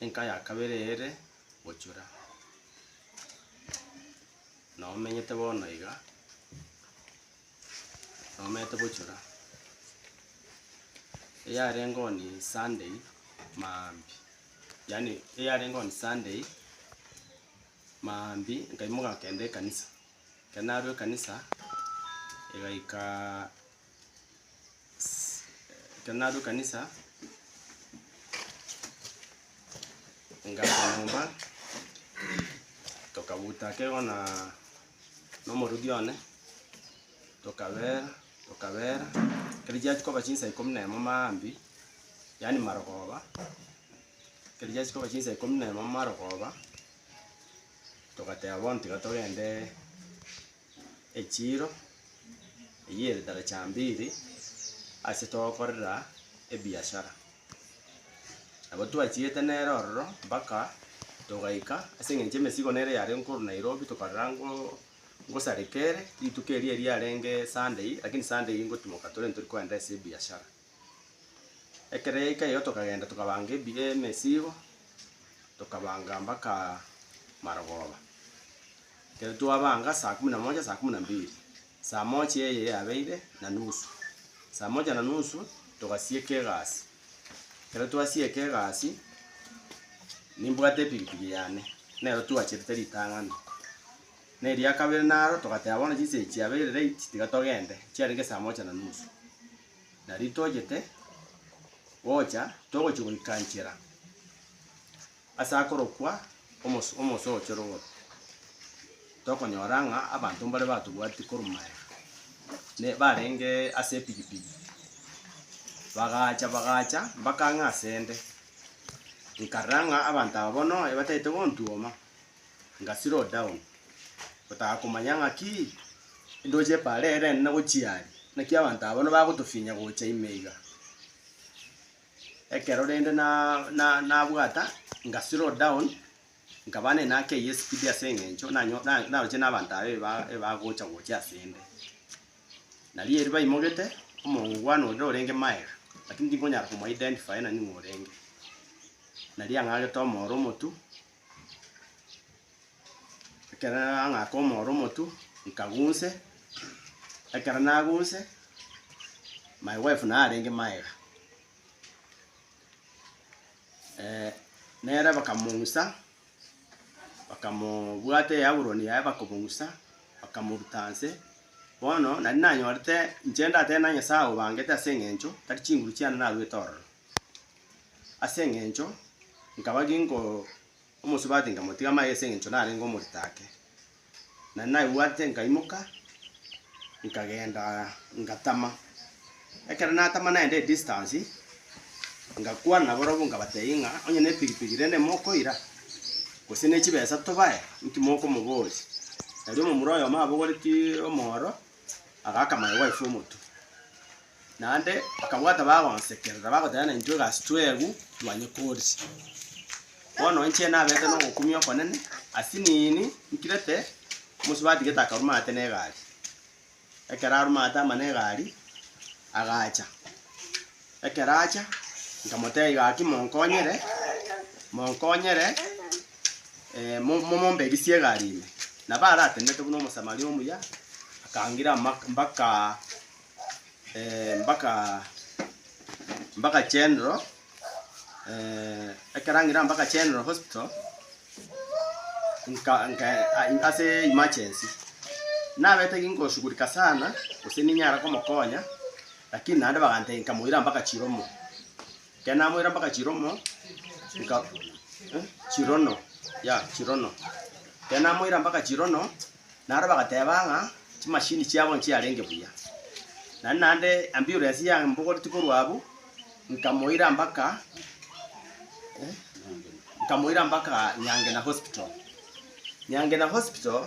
Enka ya kabere ere gochura, na omenyete bono iga, na omenyete gochura. Eyarenge on Sunday maambia, yaani eyarenge on Sunday maambia nkaimoka nkagenda ekanisa. Ekero narwa ekanisa, egaika Kenaro kanisa ngacha nyomba tokabuta kego na na omoruti one tokabera tokabera ekero chiachi koba chinsa ikomi na emo maambia yaani marogoba ekero chiachi koba chinsa ikomi na emo marogoba togateba bono tiga togende echiiro eyere daracha mbiri ase togokorera ebiashara. Nabo twachiete nere ororo mpaka togaika ase eng'encho emesigo nere yare nkorwa Nairobi tokarora ngo ngosareka ere rituko eria riarenge Sunday, lakini Sunday eyio ngotimoka torende tori kogenda ase ebiashara. Ekero yaika erio tokagenda tokabanga ebi- emesigo, tokabanga mpaka marogoba. Ekero twabanga saa kumi na moja saa kumi na mbili, saa moja eye yabeire na nusu, saa moja na nusu togasieka egasi. Ekero twasieka egasi, nimbwate epikipiki yane, nero twachirete ritang'ani. Na eria kabere naro togateba bono chinsa echi chiabeire late tiga togende, chiarenge saa moja na nusu. Na riria tochete gocha, togochia goika nchera ase akorokwa Omoso Omoso o Chorogoro, tokonyora ng'a abanto mbare batobwatia korumaya, ne barenge ase epigipigi, bagacha bagacha mpaka ang'e asende. Nkarora ng'a abanto aba bono batagete gontuoma, nga slow down, gotaka komanya ng'a ki ndoche epaara eye rende nagochia aria, naki abanto abwo nibagotofinya gocha ime iga. Ekero rende na- na- nabwata nga slow down, nkaba nene akeyie espeed ase eng'encho nanyo na- naroche na abanto aba eba- ebagocha gocha asende. Nari erio baimogete, omongo bwane orire orenge maega, lakini tinkonyara komo identify nani ng'a orenge. Nari ang'agete omooro omotu, Ekero nang'aka omoro omotu, nkagunse, ekero nagunse, my wife naye arenge magega, eh, nere bakamong'usa, bakamobwata eaburoni yaye bakomong'usa, bakamoruta nse, bono nari nanyorete inche ndatebe na Nyasae obangete as'eng'encho tari chinguru chiane narwete ororo. Ase engencho nkaba ginko omosubati nkamotiga amaiga ase engencho narenge omorito ake. Na naigwate nkaimoka nkagenda ngatama. Ekero natama naenda edistance ngakwana nabarobwo nkabatebia ng'a onye nepigipigi rende mokoira gose nechibesa tobae inki mokomoboria. Erio omomura oyomo abogoretie omooro. agaaka amayegwa aye fw'omotwe. Naende bakabwata bagonsekerera, bagoteba, Naintwe egasi twegw twanyekoorire. Bono inche nabeete nogokumia okonene, as'nini nkirete omosie batigete akarwa maate negari. Ekero arwa maate amane egari, agacha. Ekero acha, nkamotebia iga ati, Monkonyere, monkonyere, eh, mo- mo- mombegisie egari ime. Nabo aratenete buna Omosamaria omuya, akangira mak- mbaka eh, mbaka mbaka General, eh, ekero angira mbaka General Hospital, nka- nka- a- ase emergency. Nabete ki ngoshughulika sana, gose ninyara komokonya, Lakini naende bagantebia, Nkamoira mpaka chiromo. Ekero namoira mpaka chiromo, nka, eh, chirono, ya, chirono. Ekero namoira mpaka chirono, naro bagateba ng'a chimashini chiabo nchiarenge buya. Naende naende ambulance yambogoreti korwa abwo, nkamoira mpaka, eh, nkamoira mpaka Nyangena Hospital. Nyangena Hospital.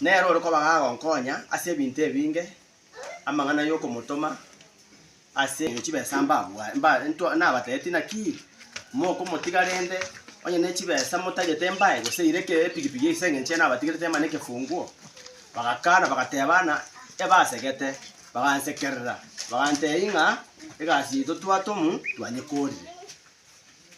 Nere ore koba gagonkonya ase ebinto ebinge, amang'ana y'okomotoma ase engencho chibesa mbabwa, mba, ntwa, nabateeti, naki mokomotiga rende onye ne chibesa motagete mbae gose ire eke epigipigi ase engencho ye nabatigerete ema nekefunguo? Bagakana, bagateba ng'a ebasegete, bagansekerera, bagantei ng'a egasi yaito twatomu twanyekorire.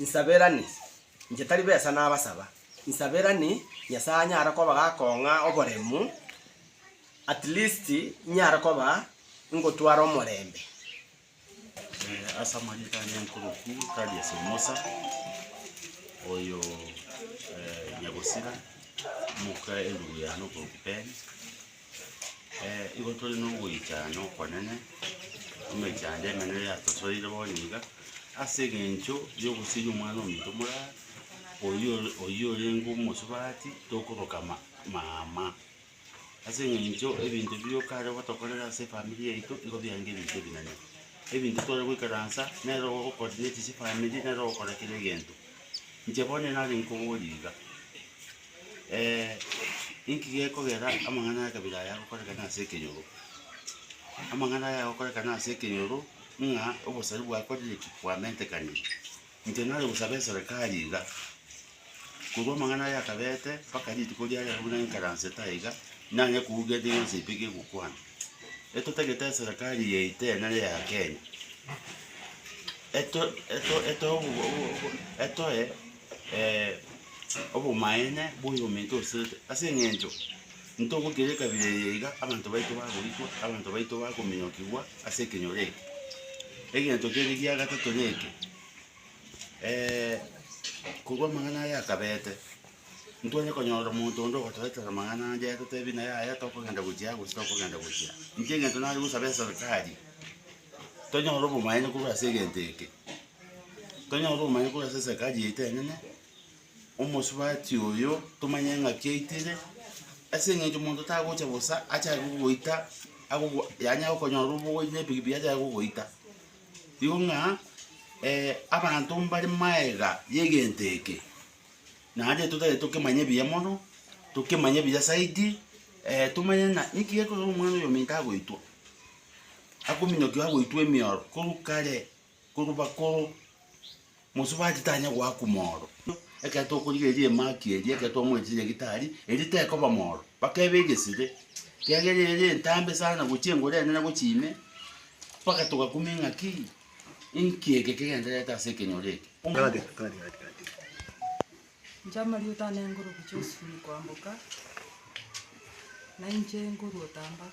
Insaberani, inche tari besa nabasaba, insaberani Nyasae anyare kobagaaka ong'a oboremu, at least inyare koba ingotwara omorembe. Eh, ase amanyete ane nkoroku Thadius Omosa, oyo eh, Nyagosira, omoka erubu yane okoroku Ben. Igo tore nogoichana nokonene, emechando emenene yatosoire bono iga, ase eng'encho yogosiria omwana ominto morara, oyio ore oyio orenge omosubati, tokoroka ma mama. Ase eng'encho ebinto bigo kare gotokorera ase efamiri yaito, nigo biarenge ebinto ebinene. Ebinto tware goikaransa, nere ogo ogo-coordinate chifamiri, nere ogokora kera egento. Inche bono nare nkobori iga. Inki gekogera amang'ana y'ekabira aya agokorekana ase ekenyoro? Amang'ana aya agokorekana ase ekenyoro ng'a obosari bwakorire ki? Bwamentekanire. Inche nare gosaba eserekari iga, korwa amang'ana aya akabete mpaka rituko riria riarenge buna enkaransete aye iga, nanye kouga ende yonsi pi kegokwana. Etotagete eserekari eye yaito eye nere ya Kenya, eto- eto- etoe obo- obo- obo etoe. Obomaene bw'oyominto oseete, ase engencho ntogokera ekabira eye iga abanto baito bagoitwa, abanto baito bakominyokigwa ase ekenyoro eke. Egento kere gia gatato neke, korwa amang'ana aya akabete, ntware konyora omonto onde ogotoetera amang'ana ande atotebie ng'a yaya tokogenda gochia aa gose tokogenda gochia aa. Intwe egento nare gosaba eserikari, tonyore obomaene korwa ase egento eke. Tonyore obomanyeku korwa ase eserikari yaito enene, omosubati oyo tomanye ng'aki aitire, ase eng'encho monto tagocha bosa achake gogoita agogo yaani akonyora obogochi na epikipiki achake gogoita. Igo ng'a abanto mbare maega ya egento eke, naende totagete tokemanye buya mono, tokemanye buya zaidi, tomanye ng'a niki gekorwa omwana oyominto agoitwa, akominyokiwa agoitwa emioro korwa kare. Korwa bakoro mosio bachitanya goakwa mooro. Ekero tokorigereria emaki eria, ekero twamoetie nyagitari, eria tekoba mooro, bakeba egesire, kiagera ere entambe sana gochia engoro enene gochia ime, mpaka togakuma engaki, inki eke kegendererete ase ekenyoro eke? Inche amarieta ane Nguruki Josephine Kwamboka, na inche nkorwa Otamba.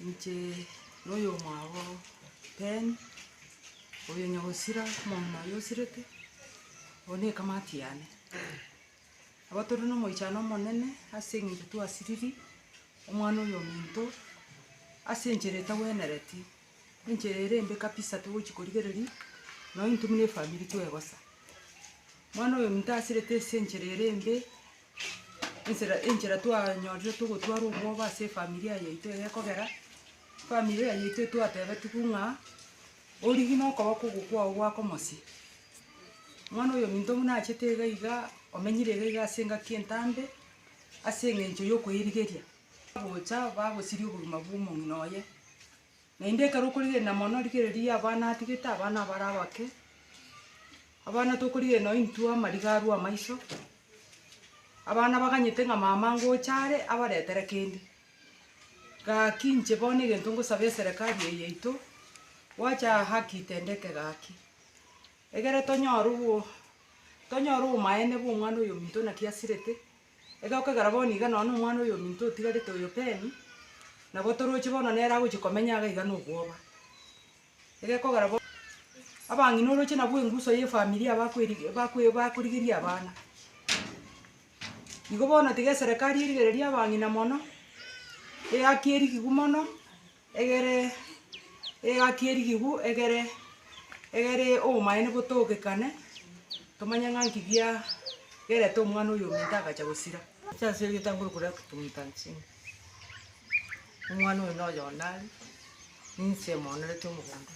Inche noyomwabo Ben, oyo nyogosira omong'ina oyo osirete, eye nekamati yane. Nabo tore nomoichano omonene ase eng'encho twasiriri omwana oyominto ase enchera etagwenereti, enchera ere embe kabisa togochi korigereri nonye intwe buna efamiri twegosa. Omwana oyominto asirete ase enchera ere embe. Ensera enchera twanyorire togotwara obwoba ase efamilia yaito eye ekogera, efamilia yaito etwatebetigwe ng'a, origi na okoboko oko kwao gwake omosie, mwana oyo ominto buna achete iga iga, omenyire iga iga ase engaki entambe, ase eng'encho yokoirigeria. Bagocha bagosiria oboruma bw'omong'ina oye. Naende ekero okorigereria na mono rigereria ya abana atigete, abana abare abake, abana tokorigereria nonye intwe amariga arwe amaiso, abana baganyete ng'a mama ngocha are abaretere kende. Gaki inche bono egento ngosaba eserekari eye yaito, gwacha haki itendeke gaki, egere tonyore obo tonyore obomaene bwa omwana oyominto naki asirete. Egokwa ekero bono iga nonya nomwana oyominto otigarete oyo Pen, nabo toroche bono nere agochia komenya iga iga nobwoba. Egekogera bono, abang'ina oroche nabo enguso ye efamiri abakweri bakwe bakorigeria abana. Igo bono tiga eserekari erigereria abang'ina mono, eyaki erigigwa mono. Egere egaki erigigw egere egere obomaene botogekane tomanye ng'a nki bia gerete omwana oyo ominto agacha gosira. Chase egetanguru koria totumeta nsemo. Omwana oyo noyo onare ninse monerete omogondo.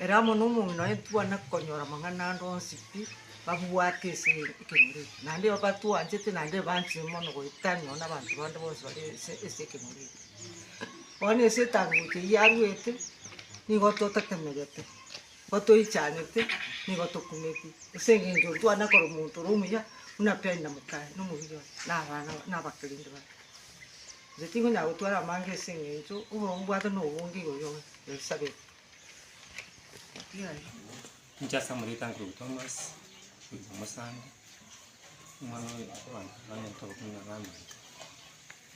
Ere amo nomong'ina oye ntwane konyora amang'ana ande onsi pi, babwate ase ekenyoro eke, naende batwanchete naende banchire mono goeta nonye na abanto bande bonsi bare ase ase ekenyoro eke. Bono ase etangocha eyio yarwete, nigo totetemegete, nigo toichanete, nigo tokumeti, ase eng'encho ntwane korwa omonto ore omuya, buna Penina mokaye na omorwiri oye, na abana na abakerende baye. Inche tingonyara gotwara amanga ase eng'encho obobe mbwate nobonge igoro y'omonto oisabete. Naki aye? Inche ase amarieta Nkurugu Thomas, Nkurugu Omosande, omwana oyo abanto banyarete ogokumenya nere amo ime,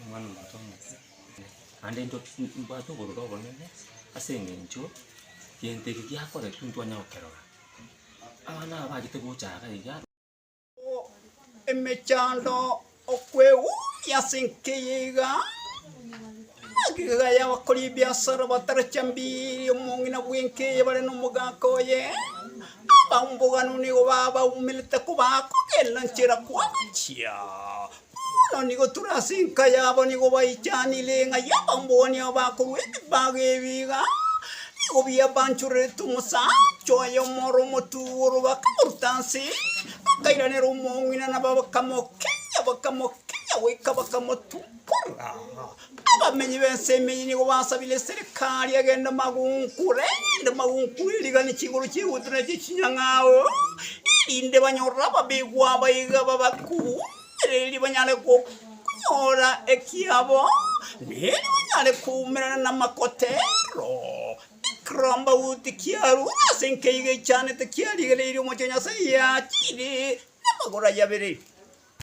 omwana omonto omoke, naende intwe mbwate obororo obonene ase eng'encho gento eke giakoretwe intwe twanyara gokerora, abana aba mbachete gocha iga iga. emechando okwegumia ase enkeya iga, egekegera y'abakori ebiasara batara chambiri, omong'ina bw'enkeya bare nomogaka oye, abamboganunu nigo babaumerete kobakogenda nchera kwancha. Bono nigo tore ase enka yabo, nigo baichanire ng'a y'abamboni aba bakorwa ebibago ebi iga, nigo biabanchorerete omosacha oye omoro omotuoro, bakamoruta nse, bakairanera omong'ina, na bakamokenya, bakamokenya goika bakamotunkora. Abamenyi b'ensemo eyio nigo basabire eserekari egende magunkure, erinde magunkure erigane chinguru chi'egutwa na echie chinyang'ao, erinde banyore ababegwa aba iga babaku, ereri banyare gok- nyora ekiabo, na eri banyare koumerana namakotero, ekerombauti kia Haruni ase nkeiga echanete kiarigereirie omochie o Nyasae yachirie namagoro ayabere.